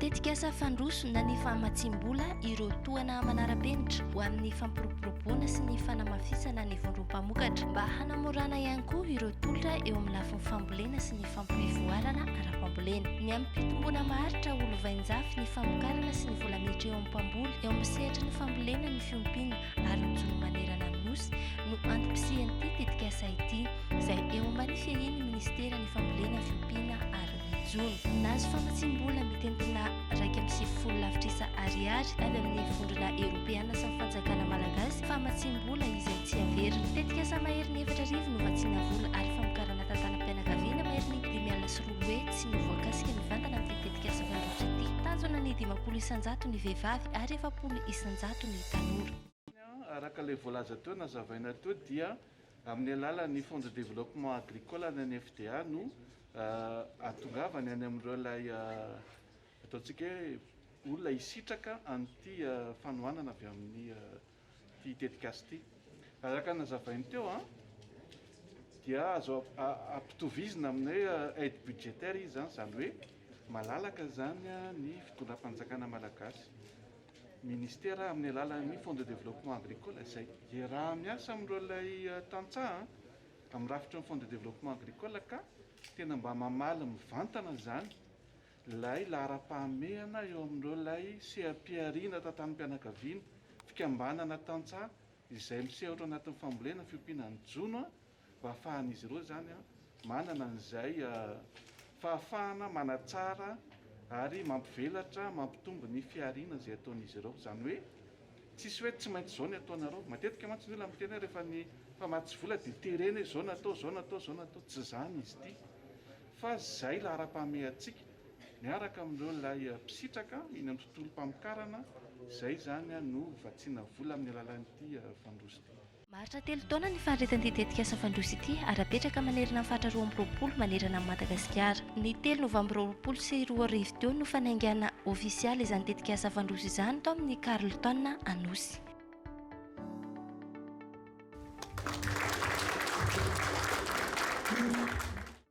Tetikasa fandrosona ny famatsiam-bola ireo tohana manara-penitra ho amin'ny fampiroboroboana sy ny fanamafisana ny vondrom-pamokatra mba hanamorana ihany koa ireo tolotra eo amin'ny lafiny fambolena sy ny fampivoarana ara-pambolena. Ny amin'ny fitomboana maharitra ho lovainjafy ny famokarana sy ny vola miditra eo amin'ny mpamboly eo amin'ny sehatry ny fambolena ny fiompiana ary ny jono manerana ny Nosy no antom-pisian'ity tetikasa ity izay eo ambany fiahian'ny minisiteran'ny fambolena, fiompiana ary ny jono. Nahazo famatsiam-bola mitentina iraika amby sivifolo lavitrisa ariary avy amin'ny vondrona eropeana sy ny fanjakana malagasy famatsiam-bola izay. Tsy averiny. Tetikasa maherin'ny efatra arivo novatsiana vola ary famokarana tantanam-pianakaviana maherin'ny dimy alina sy roa hetsy no voakasika mivantana amin'ity tetikasa fandrosotra ity. Tanjona ny dimampolo isan-jato ny vehivavy ary efapolo isan-jato ny tanora. Araka ilay voalaza teo, nazavaina teo dia amin'ny alalan'ny Fonds de Développement Agricole any amin'ny FDA no ahatongavany any amin'ireo ilay ataontsika hoe olona hisitraka an'ity fanohanana avy amin'ny Ity tetikasa ity, araka ny nazavainy teo, dia azo ampitovizina amin'ny hoe aide budgétaire izy, izany hoe malalaka izany ny fitondram-panjakana malagasy, ministera amin'ny alalan'ny Fonds de développement agricole izay iaraha-miasa amin'ireo ilay tantsaha amin'ny rafitry ny Fonds de développement agricole ka tena mba mamaly mivantana izany Ilay laharam-pahamehana eo amin'ireo ilay seha-pihariana tantanim-pianakaviana, fikambanana tantsaha izay misehotra ao anatin'ny fambolena fiompiana ny jono mba hahafahan'izy ireo izany manana an'izay fahafahana manatsara ary mampivelatra mampitombo ny fihariana izay ataon'izy ireo. Izany hoe tsisy hoe tsy maintsy izao ny ataonareo. Matetika mantsy ny olona miteny hoe rehefa ny mpamatsy vola dia terena hoe izao no atao, izao no atao, izao no atao. Tsy izany izy ity. Fa izay laharam-pahamehantsika, miaraka amin'ireo ilay mpisitraka eny amin'ny tontolom-pamokarana, izay izany no vatsiana vola amin'ny alalan'ity Fandroso ity. Maharitra telo taona ny faharetan'ity tetikasa Fandroso ity ary apetraka manerana ny faritra roa amby roapolo manerana an'i Madagasikara. Ny telo novambra roapolo sy roa arivo teo no fanaingana ofisialy izany tetikasa Fandroso izany tao amin'ny Carlton Anosy.